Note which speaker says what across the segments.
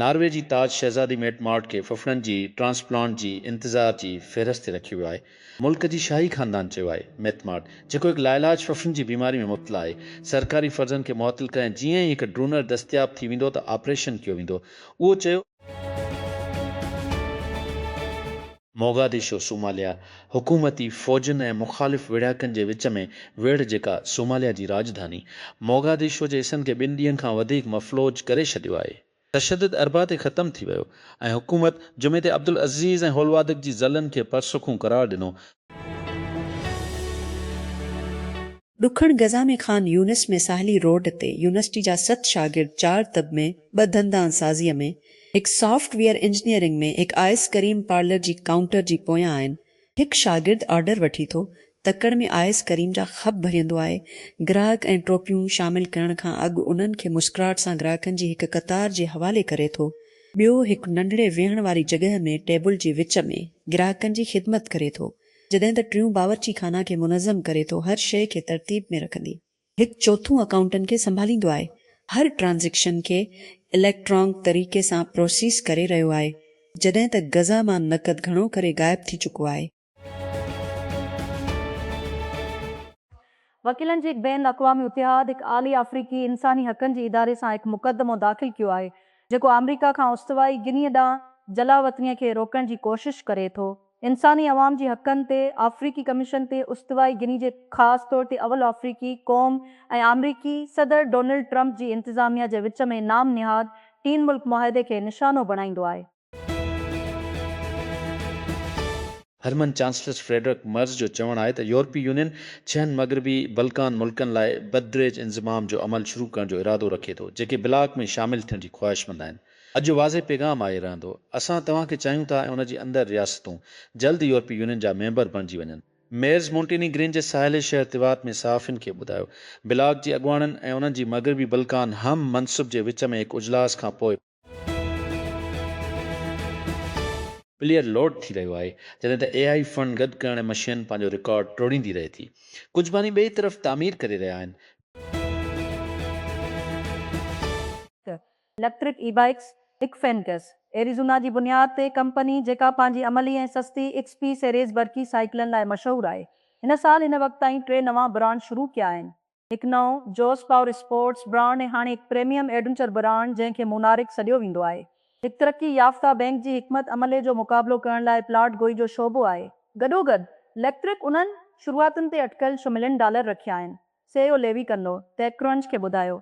Speaker 1: Norway جي تاج شهزادي ميٽ مارٽ کي ڦڦڙن جي ٽرانسپلانٽ جي انتظار جي فهرست تي رکيو ويو آهي. ملڪ جي شاهي خاندان چيو آهي ميٽ مارٽ، جيڪو هڪ لاعلاج ڦڦڙن جي بيماري ۾ مبتلا آهي، سرڪاري فرضن کي معطل ڪري ۽ جيئن ئي هڪ ڊونر دستياب ٿي ويندو ته آپريشن ڪيو ويندو. اهو چيو. موگاديشو، صوماليا، حڪومتي فوجن ۽ مخالف ويڙهاڪن جي وچ ۾ ويڙهه جيڪا صوماليا جي راڄڌاني موگاديشو جي حصن کي ٻن ڏينهن کان وڌيڪ مفلوج ڪري ڇڏيو آهي. تشدد اربع تي ختم ٿي ويو ۽ حڪومت جمعي تي عبدالعزيز ۽ هولوادڪ جي ضلعن کي پرسکون قرار ڏنو.
Speaker 2: ڏکڻ غزه ۾ خان يونس ۾ ساحلي روڊ تي يونيورسٽي جا ست شاگرد چار طب ۾ ٻه دندان سازيء ۾ هڪ سافٽ ويئر انجنيئرنگ ۾ هڪ آئس ڪريم پارلر جي ڪائونٽر جي پويان آهن هڪ شاگرد آرڊر وٺي ٿو تڪڙ ۾ آئس ڪريم جا خب ڀريندو آهي گراهڪ ۽ ٽوپيون شامل ڪرڻ کان اڳ انهن کي مسڪراهٽ سان گراهڪن جي هڪ قطار جي حوالي ڪري ٿو ٻيو هڪ ننڍڙي ويهڻ واري جڳهه ۾ ٽيبل جي وچ ۾ گراهڪن جي خدمت ڪري ٿو جڏهن ته ٽيون باورچي خانه کي منظم ڪري ٿو هر شيء کي ترتيب ۾ رکندي. هڪ چوٿون اڪائونٽن کي سنڀاليندو آهي هر ٽرانزيڪشن کي اليڪٽرانڪ طريقي سان پروسيس ڪري رهيو آهي جڏهن ته غزه مان نقد گهڻو ڪري غائب ٿي چڪو آهي.
Speaker 3: وڪيلن جي هڪ بين الاقوامي اتحاد هڪ اعلي آفريڪي انساني حقن جي اداري سان هڪ مقدمو داخل ڪيو آهي جيڪو آمريڪا کان استوائي گنيء ڏانهن جلاوطنيء کي روڪڻ جي ڪوشش ڪري ٿو. انساني عوام جي حقن تي آفريڪي ڪميشن تي استوائي گني جي خاص طور تي اول آفريڪي قوم ۽ آمريڪي صدر ڊونلڊ ٽرمپ جي انتظاميا جي وچ ۾ نام نهاد ٽين ملڪ معاهدي کي نشانو بڻائيندو آهي.
Speaker 1: هرمن چانسلر فريڊرڪ مرز جو چوڻ آهي ته يورپي يونين ڇهن مغربي بلڪان ملڪن لاء بددريج انضمام جو عمل شروع ڪرڻ جو ارادو رکي ٿو جيڪي بلاڪ ۾ شامل ٿيڻ جي خواهشمند آهن اڄ جو واضح پيغام آهي رهندو اسان توهان کي چاهيون ٿا ۽ ان جي اندر رياستون جلد يورپي يونين جا ميمبر بڻجي وڃن. ميرز مونٽيني گرين جي ساحلي شهر تيوات ۾ صحافين کي ٻڌايو بلاڪ جي اڳواڻن ۽ انهن جي مغربي بلڪان هم منصب جي وچ ۾ هڪ اجلاس کان پوء پليئر لوڊ ٿي رهيو آهي، جڏهن ته اي آئي فنڊ گڏ ڪرڻ مشين پنهنجو رڪارڊ ٽوڙيندي رهي ٿي. ڪجهه باني ٻئي طرف تعمير ڪري رهيا آهن.
Speaker 3: اليڪٽرڪ اي بائيڪس، اڪفينڪس، ايريزونا جي بنياد تي ڪمپني جيڪا پنهنجي عملي ۽ سستي ايڪس پي سيريز برقي سائيڪلن لاء مشهور آهي، هن سال هن وقت تائين ٽي نوان برانڊ شروع ڪيا آهن. هڪ نئون جوس پاور اسپورٽس برانڊ ۽ هاڻي هڪ پريميم ايڊونچر برانڊ جنهن کي مونارڪ سڏيو ويندو آهي، هڪ ترقي يافته بئنڪ جي حڪمت عملي جو مقابلو ڪرڻ لاء پلاٽ گوئي جو شعبو آهي. گڏوگڏ ليڪٽرڪ انهن شروعاتن تي اٽڪل ڇهه ملين ڊالر رکيا آهن، سي اي او ليوي ڪنو ٽيڪ ڪرنچ کي ٻڌايو.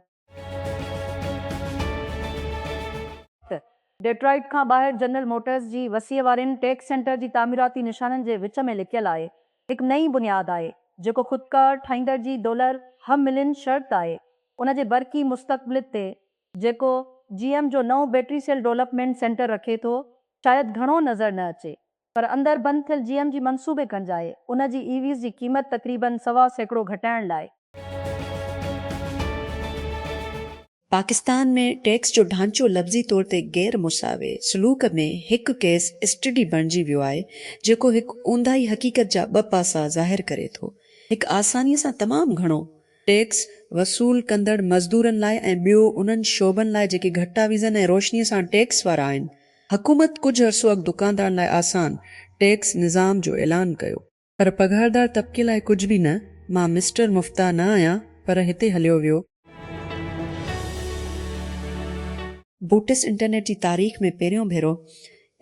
Speaker 3: ڊيٽرائيٽ کان ٻاهر جنرل موٽرز جي وسيع وارين ٽيڪ سينٽر جي تعميراتي نشانن جي وچ ۾ لڪيل آهي، هڪ نئين بنياد آهي، جيڪو خودڪار ٺاهيندڙ جي ڊولر هم ملين شرط آهي، ان جي برقي مستقبلت تي، جيڪو جي ايم جو نئون بيٽري سيل ڊولپمينٽ سينٽر رکي ٿو، شايد گهڻو نظر نه اچي، پر اندر بند ٿيل جي ايم جي منصوبي گهنج آهي، ان جي اي ويز جي قيمت تقريبن سوا سيڪڙو گهٽائڻ لاء.
Speaker 2: پاڪستان ۾ ٽيڪس جو ڍانچو لفظي طور تي غير مساوي سلوڪ ۾ هڪ ڪيس اسٽڊي بڻجي ويو آهي، جيڪو هڪ اونداهي حقيقت جا ٻه پاسا ظاهر ڪري ٿو، هڪ آسانيء سان تمام گهڻو، ٽيڪس، وصول ڪندڙ مزدورن لاء ۽ ٻيو انهن شعبن لاء جيڪي گهٽ آويزن ۽ روشنيء سان ٽيڪس وارا آهن. حڪومت ڪجهه عرصو اڳ دڪاندارن لاء آسان، ٽيڪس، نظام جو اعلان ڪيو. پر پگهاردار طبقي لاء ڪجهه به نه. مان مسٽر مفتاح نه آهيان، پر هتي هليو ويو. بوٽس انٽرنيٽ جي تاريخ ۾ پهريون ڀيرو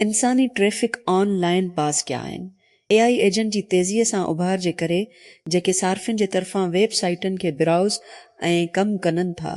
Speaker 2: انساني ٽريفڪ آن لائن پاس ڪيا آهن. اي آء ايجنٽ جي تيزيء سان اڀار جي ڪري جيڪي صارفين جي طرفان ويب سائيٽن کي براؤز ۽ ڪم ڪنن ٿا،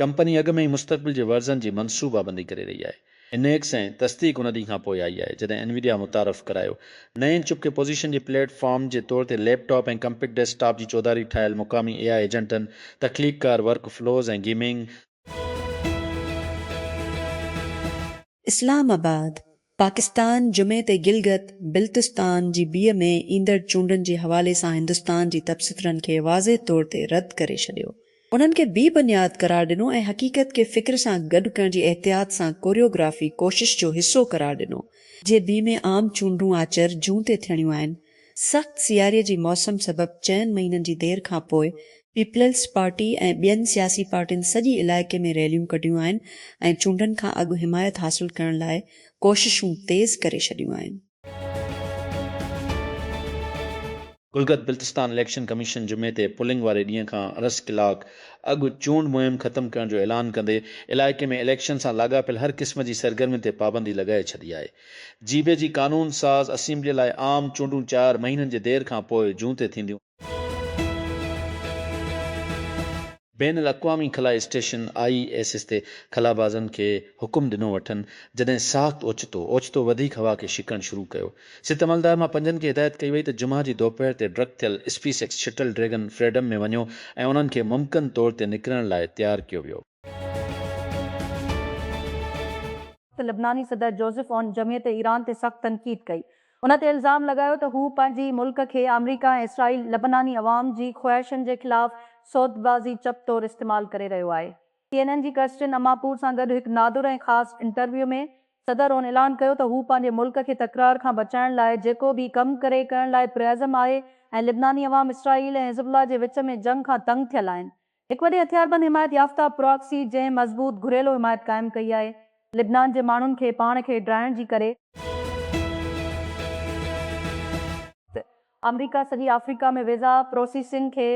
Speaker 1: ڪمپني اڳ ۾ ئي مستقبل جي ورزن جي منصوبابندي ڪري رهي آهي. انيڪس ۽ تصديق ان ڏينهن کان پوء آئي آهي جڏهن انويڊيا متعارف ڪرايو. نئين چپ کي پوزيشن جي پليٽ فارم جي طور تي laptop ۽ compact desktop جي چوڌاري ٺاهيل مقامي اي آء ايجنٽن، تخليق ڪار ورڪ فلوز ۽ گيمنگ، اسلام
Speaker 2: آباد، پاڪستان جمعي تي گلگت بلتستان جي بي ۾ ايندڙ چونڊن جي حوالي سان هندستان جي تبصترن کي واضح طور تي رد ڪري ڇڏيو، انهن کي بي بنياد قرار ڏنو ۽ حقيقت کي فڪر سان گڏ ڪرڻ جي احتياط سان ڪوريوگرافي ڪوشش جو حصو قرار ڏنو. جي بي ۾ عام چونڊون آچر، جون تي ٿيڻيون آهن. سخت سياري جي موسم سبب چئن مهينن جي دير کان پوء پيپلز پارٽي ۽ ٻين سياسي پارٽين سڄي علائقي ۾ ريليون ڪڍيون آهن ۽ چونڊن کان اڳ حمايت حاصل ڪرڻ لاء ڪوششون تيز ڪري ڇڏيون آهن.
Speaker 1: گلگت بلتستان اليڪشن ڪميشن جمعي تي پولنگ واري ڏينهن کان ارس ڪلاڪ اڳ چونڊ مهم ختم ڪرڻ جو اعلان ڪندي علائقي ۾ اليڪشن سان لاڳاپيل هر قسم جي سرگرمين تي پابندي لڳائي ڇڏي آهي. جيبي جي قانون ساز اسيمبليء لاء عام چونڊون چار مهينن جي دير کان پوء جون تي ٿينديون. بين الاقوامي خلائي اسٽيشن، آء ايس ايس، تي خلابازن کي حڪم ڏنو وٺن، جڏهن ساخت اوچتو اوچتو وڌيڪ هوا کي شڪڻ شروع ڪيو. ست عملدار مان پنجن کي هدايت ڪئي وئي ته جمعه جي دوپهر تي ڊڪ ٿيل SpaceX shuttle Dragon Freedom ۾ وڃو ۽ انهن کي ممڪن طور تي نڪرڻ لاء تيار ڪيو ويو.
Speaker 3: ته لبناني صدر جوزف عون جمعيت ايران تي سخت تنقيد ڪئي. ان تي الزام لڳايو ته هو پنهنجي ملڪ کي آمريڪا ۽ اسرائيل لبناني عوام جي خواهشن جي خلاف سودبازي چپ طور استعمال ڪري رهيو آهي. سي اين اين جي ڪرسٽين اماپور سان گڏ هڪ نادر ۽ خاص انٽرويو ۾ صدر عون اعلان ڪيو ته هو پنهنجي ملڪ کي تڪرار کان بچائڻ لاء جيڪو به ڪم ڪري ڪرڻ لاء پرعزم آهي ۽ لبناني عوام اسرائيل ۽ حزب الله جي وچ ۾ جنگ کان تنگ ٿيل آهن هڪ وڏي هٿياربند حمايت يافته پراڪسي جنهن مضبوط گهريلو حمايت قائم ڪئي آهي لبنان جي ماڻهن کي پاڻ کي ڊاهڻ جي ڪري، ته آمريڪا سڄي آفريڪا ۾ ويزا پروسيسنگ کي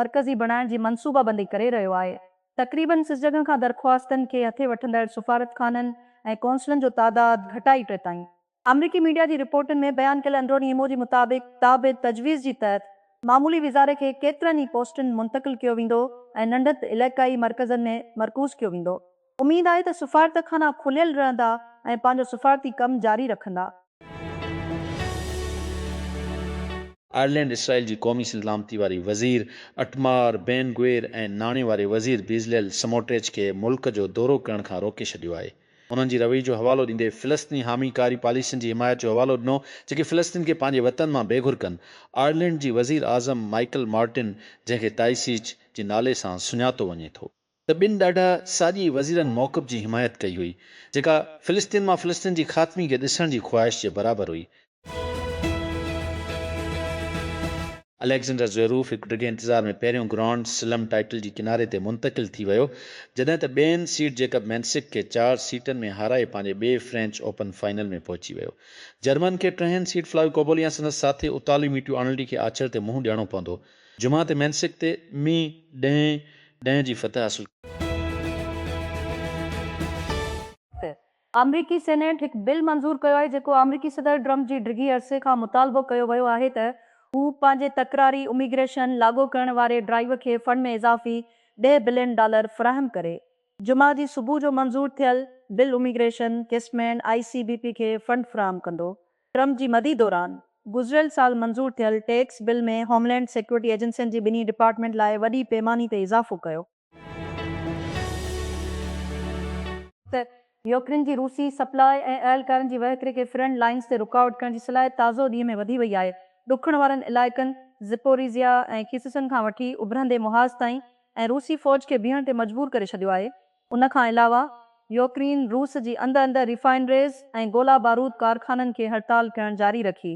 Speaker 3: مرڪزي بڻائڻ جي منصوبه بندي ڪري رهيو آهي تقريبن سس جڳهن کان درخواستن کي هٿي وٺندڙ سفارتخانن ۽ قونصلن جو تعداد گهٽائي ٽي تائين آمريڪي ميڊيا جي رپورٽن ۾ بيان ڪيل اندروني ايمو جي مطابق تابد تجويز جي تحت معمولي وزاري کي ڪيترن ئي پوسٽن منتقل ڪيو ويندو ۽ ننڍت علائقائي مرڪزن ۾ مرڪوز ڪيو ويندو اميد آهي ته سفارتخانا کليل رهندا ۽ پنهنجو سفارتي ڪم جاري رکندا.
Speaker 1: آئرلينڊ اسرائيل جي قومي سلامتي واري وزير اٽمار بين گوير ۽ ناڻي واري وزير بيزليل سموٽريچ کي ملڪ جو دورو ڪرڻ کان روڪي ڇڏيو آهي. انهن جي رويي جو حوالو ڏيندي فلسطيني حامي ڪاري پاليسين جي حمايت جو حوالو ڏنو جيڪي فلسطين کي پنهنجي وطن مان بي گهر ڪن. آئرلينڊ جي وزير اعظم مائيڪل مارٽن جنهن کي تائيسيچ جي نالي سان سڃاتو وڃي ٿو. ته ٻن ڏاڍا ساڄي وزيرن موقف جي حمايت ڪئي هئي جيڪا فلسطين مان فلسطين جي خاتمي کي ڏسڻ جي خواهش جي برابر هئي. اليگزينڊر زويروف هڪ ڊگهي انتظار ۾ پهريون گرانڊ سلم ٽائيٽل جي ڪناري تي منتقل ٿي ويو، جڏهن ته ٻين سيڊ جيڪب مينسڪ کي چار سيٽن ۾ هارائي پنهنجي ٻئي فرينچ اوپن فائنل ۾ پهچي ويو. جرمن کي ٽهين سيڊ فلاويو ڪوبولي ۽ سندس ساٿي اطالوي ميٽيو آرنلڊي کي آچر تي منهن ڏيڻو پوندو. جمعه تي مينسڪ تي مي ڏهين ڏهين جي فتح حاصل ڪئي.
Speaker 3: آمريڪي سينيٽ هڪ بل منظور ڪيو آهي جيڪو آمريڪي صدر ٽرمپ جي ڊگهي عرصي کان مطالبو ڪيو ويو آهي ته هو پنهنجي تڪراري اميگريشن لاڳو ڪرڻ واري ڊرائيو کي فنڊ ۾ اضافي ڏهه بلين ڊالر فراهم ڪري. جمعه جي صبح جو منظور ٿيل بل اميگريشن ڪيسمين آء سي بي پي کي فنڊ فراهم ڪندو. ٽرمپ جي مدي دوران گذريل سال منظور ٿيل tax bill ۾ homeland security ايجنسين جي ٻنهي ڊپارٽمينٽ لاء وڏي پيماني تي اضافو ڪيو. ته يوڪرين جي روسي سپلاء ۽ اهلڪارن جي وهڪري کي فرنٽ لائنز تي رڪاوٽ ڪرڻ جي صلاحيت تازو ڏينهن ۾ وڌي وئي آهي. ڏکڻ وارن علائقن Zaporizhzhia ۽ Kherson کان وٺي اڀرندي محاذ تائين ۽ روسي فوج کي بيهڻ تي مجبور ڪري ڇڏيو آهي. ان کان علاوه يوڪرين روس جي اندر اندر ريفائنريز ۽ گولا بارود ڪارخانن کي هڙتال ڪرڻ جاري رکي.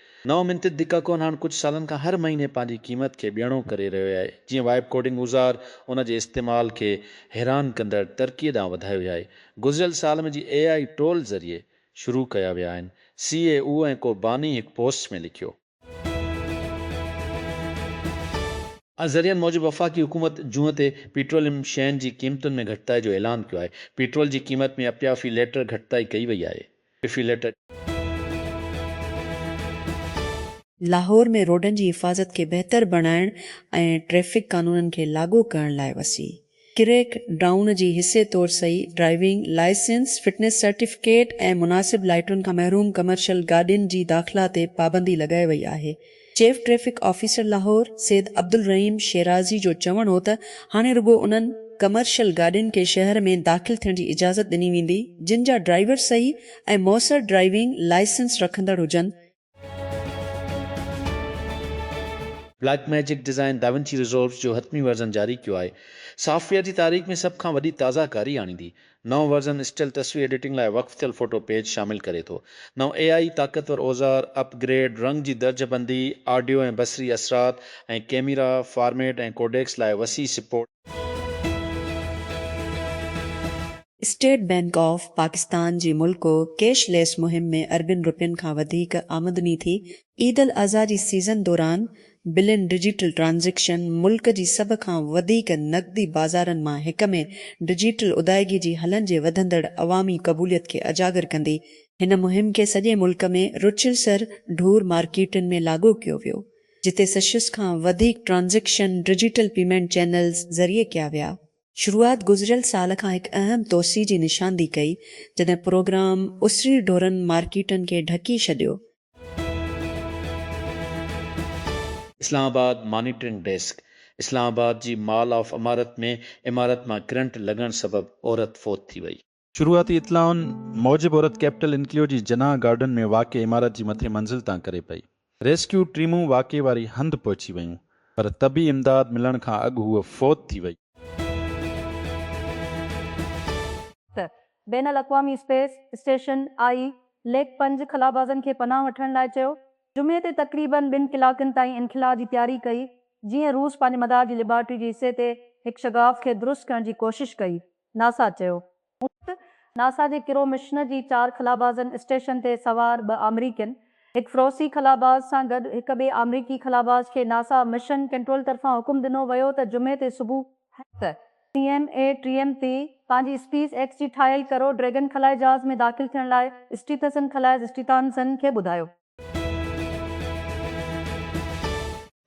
Speaker 1: نئون منتد ديڪاڪون هاڻ ڪجهه سالن کان هر مهيني پنهنجي قيمت کي ٻيڻو ڪري رهيو آهي، جيئن وائپ ڪوڊنگ اوزار ان جي استعمال کي حيران ڪندڙ ترقيء ڏانهن وڌايو ويو آهي. گذريل سال ۾ جي اي آء ٽول ذريعي شروع ڪيا ويا آهن، سي اي او ۽ ڪو باني هڪ پوسٽ ۾ لکيو. انهن ذريعن موجب وفاقي حڪومت جون تي پيٽروليم شين جي قيمتن ۾ گهٽتائي جو اعلان ڪيو آهي، پيٽرول جي قيمت ۾ اپيافي ليٽر گهٽتائي ڪئي وئي آهي. ٽفيلٽ.
Speaker 2: لاهور ۾ روڊن جي حفاظت کي بهتر بڻائڻ ۽ ٽريفڪ قانونن کي لاڳو ڪرڻ لاء وسيع ڪريڪ ڊائون جي حصي طور صحيح ڊرائيونگ لائسنس، فٽنس سرٽيفڪيٽ ۽ مناسب لائيٽن کان محروم ڪمرشل گاڏين جي داخلا تي پابندي لڳائي وئي آهي، chief traffic officer Lahore Syed Abdul Rahim Shirazi جو چوڻ هو ته هاڻي رڳو انهن ڪمرشل گاڏين کي شهر ۾ داخل ٿيڻ جي اجازت ڏني ويندي جن جا ڊرائيور صحيح ۽ موثر ڊرائيونگ لائسنس رکندڙ هجن.
Speaker 1: Blackmagic Design DaVinci Resolve's جو حتمي ورزن جاري ڪيو آهي. سافٽ ويئر جي تاريخ ۾ سڀ کان وڏي تازه ڪاري آڻيندي. نئون ورزن اسٽل تصوير ايڊيٽنگ لاء وقف ٿيل فوٽو پيج شامل ڪري ٿو. نئون اي آئي طاقتور اوزار، اپ گريڊ، رنگ جي درجه بندي، آڊيو ۽ بصري اثرات، ۽ ڪيميرا، فارميٽ ۽ ڪوڊيڪس لاء وسيع support.
Speaker 2: State Bank of Pakistan جي ملڪو ڪيش ليس مهم ۾ اربين رپين کان وڌيڪ آمدني ٿي، عيد الاضحي جي سيزن دوران بلين ڊجيٽل ٽرانزيڪشن ملڪ جي سڀ کان وڌيڪ نقدي بازارن مان هڪ ۾ ڊجيٽل ادائيگي جي حلن جي وڌندڙ عوامي قبوليت کي اجاگر ڪندي، هن مهم کي سڄي ملڪ ۾ رچل سر ڍور مارڪيٽن ۾ لاڳو ڪيو ويو، جتي سشيس کان وڌيڪ ٽرانزيڪشن ڊجيٽل پيمينٽ چينلز ذريعي ڪيا ويا. شروعات گذريل سال کان هڪ اهم توسيع جي نشاندهي ڪئي، جڏهن پروگرام اسري ڍورن مارڪيٽن کي ڍڪي ڇڏيو،
Speaker 1: Islamabad, monitoring desk, Islamabad جي مال آف عمارت ۾ عمارت مان ڪرنٽ لڳڻ سبب عورت فوت ٿي وئي. شروعاتي اطلاعن موجب عورت ڪيپٽل انڪليو جي جناح گارڊن ۾ واقع عمارت جي مٿين منزل تان ڪري پئي. ريسڪيو ٽيمون واقعي واري هنڌ پهچي ويون پر طبي امداد ملڻ کان اڳ هوء فوت ٿي وئي.
Speaker 3: بين الاقوامي اسپيس اسٽيشن آء ليڪ پنج خلابازن کي پناهه وٺڻ لاء چيو. جمعي تي تقريبن ٻن ڪلاڪن تائين انخلا جي تياري ڪئي، جيئن روس پنهنجي مدار جي ليبارٽري جي حصي تي هڪ شگاف کي درست ڪرڻ جي ڪوشش ڪئي، ناسا چيو. ناسا جي ڪرو مشن جي چار خلابازن اسٽيشن تي سوار ٻه آمريڪين، هڪ فروسي خلاباز سان گڏ هڪ ٻئي آمريڪي خلاباز کي ناسا مشن ڪنٽرول طرفان حڪم ڏنو ويو ته جمعي تي صبح، سي ايم اي ٽريم تي پنهنجي اسپيس ايڪس جي ٺاهيل ڪرو ڊريگن خلائي جهاز ۾ داخل ٿيڻ لاء اسٽيٿسن خلائي اسٽيٿانسن کي ٻڌايو.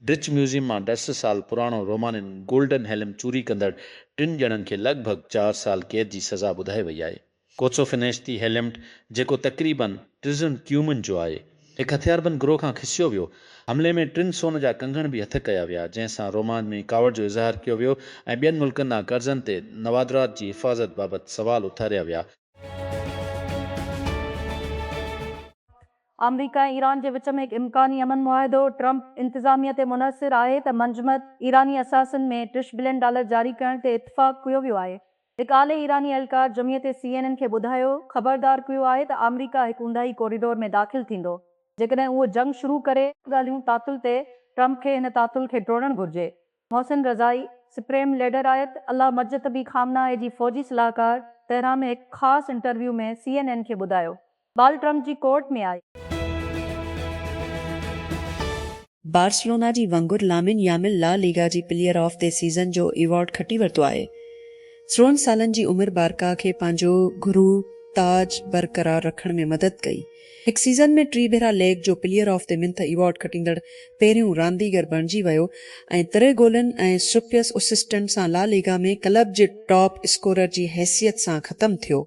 Speaker 1: ڊچ ميوزيم مان ڏھ سھ سال پراڻو رومانين گولڊن هيلم چوري ڪندڙ ٽن ڄڻن کي لڳ ڀڳ چار سال قيد جي سزا ٻڌائي وئي آهي. ڪوچو فنيشتي هيلمٽ جيڪو تقريبن ٽزن ڪيومن جو آهي، هڪ هٿياربند گروهه کان کسيو ويو. حملي ۾ ٽن سون جا ڪنگڻ به هٿ ڪيا ويا، جنهن سان رومانڊ ۾ ڪاوڙ جو اظهار ڪيو ويو ۽ ٻين ملڪن ڏانهن قرضن تي نوادرات جي حفاظت بابت سوال اٿاريا ويا.
Speaker 3: آمريڪا ۽ ايران جي وچ ۾ هڪ امڪاني امن معاهدو، ٽرمپ انتظاميه تي منحصر آهي ته منجمد ايراني اثاثن ۾ ٽش بلين ڊالر جاري ڪرڻ تي اتفاق ڪيو ويو آهي، هڪ اعلي ايراني اهلڪار جمعيت سي اين اين کي ٻڌايو، خبردار ڪيو آهي ته آمريڪا هڪ اونداهي ڪوريڊور ۾ داخل ٿيندو، جيڪڏهن اهو جنگ شروع ڪري. ڳالهيون تعطل تي، ٽرمپ کي هن تعطل کي ٽوڙڻ گهرجي، محسن رضائي، سپريم ليڊر آيت الله مجتبي خامنه اي جي فوجي صلاحڪار تهران ۾ هڪ خاص انٽرويو ۾ سي اين اين کي ٻڌايو
Speaker 2: بال ٽرمپ جي ڪورٽ ۾ آئي. بارسلونا جي winger Lamine Yamal La Liga جي پليئر آف دي سيزن جو ايوارڊ کٽي ورتو آهي. سورهن سالن جي عمر بارڪا کي پنهنجو گهرو تاج برقرار رکڻ ۾ مدد ڪئي. هڪ سيزن ۾ ٽي ڀيرا ليگ جو player of the month award کٽيندڙ پهريون رانديگر بڻجي ويو ۽ تري گولن ۽ سپيس اسسٽنٽ سان لا ليگا ۾ ڪلب جي ٽاپ اسڪورر جي حيثيت سان ختم ٿيو.